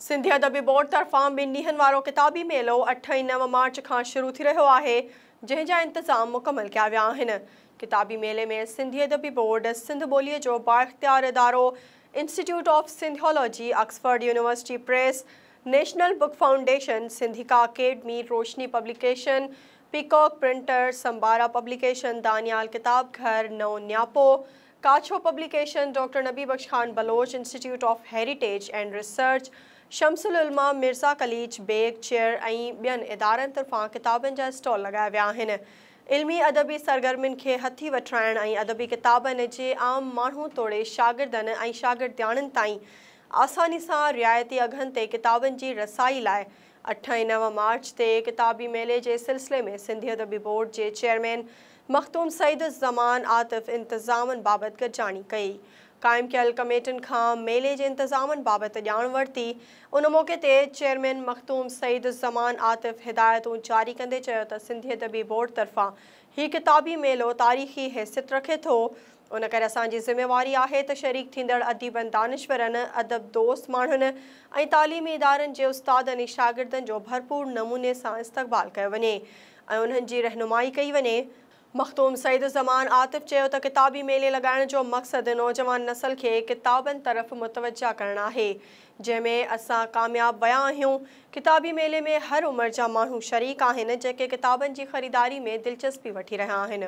Sindhi Adabi Board طرفان ٻن ڏينهن وارو ڪتابي ميلو اٺ ۽ نو مارچ کان شروع ٿي رهيو آهي، جنهن جا انتظام مڪمل ڪيا ويا آهن. ڪتابي ميلي ۾ سنڌي ادبي بورڊ، سنڌ ٻوليء جو بااختيار ادارو، Institute of Sindhology, Oxford University Press, National Book Foundation, Sindhica Academy, Roshni Publication, Peacock Printers, Sambara Publication, Daniyal Kitab Ghar, Naon Niyapo, Kachho, Publication, doctor Nabi Bakhsh Khan Baloch Institute of Heritage and Research, Shams العلماء مرزا قليچ بيگ چيئر ۽ ٻين ادارن طرفان ڪتابن جا اسٽال لڳايا ويا آهن. علمي ادبي سرگرمين کي هٿي وٺرائڻ ۽ ادبي ڪتابن جي عام ماڻهو توڙي شاگردن ۽ شاگردياڻين تائين آساني سان رعايتي اگهن تي ڪتابن جي رسائي لاء اٺ ۽ نو مارچ تي ڪتابي ميلي جي سلسلي ۾ سنڌي ادبي بورڊ جي چيئرمين مخدوم سعيد الزمان عاطف انتظامن بابت گڏجاڻي ڪئي. قائم ڪيل ڪميٽين کان ميلي جي انتظامن بابت ڄاڻ ورتي. ان موقعي تي چيئرمين مخدوم سعيد الزمان عاطف هدايتون جاري ڪندي چيو ته سنڌي ادبي بورڊ طرفان هي ڪتابي ميلو تاريخي حيثيت رکي ٿو، ان ڪري اسان جي ذميواري آهي ته شريڪ ٿيندڙ اديبن، دانشورن، ادب دوست ماڻهن ۽ تعليمي ادارن جي استادن ۽ شاگردن جو ڀرپور نموني سان استقبال ڪيو وڃي ۽ انهن جي رهنمائي ڪئي وڃي. مخدوم سعيد الزمان عاطف چيو ته ڪتابي ميلي لڳائڻ جو مقصد نوجوان نسل کي ڪتابن طرف متوجهه ڪرڻ آهي، جنهن ۾ اسان ڪامياب ويا آهيون. ڪتابي ميلي ۾ هر عمر جا ماڻهو شريڪ آهن، جيڪي ڪتابن جي خريداري ۾ دلچسپي وٺي رهيا آهن.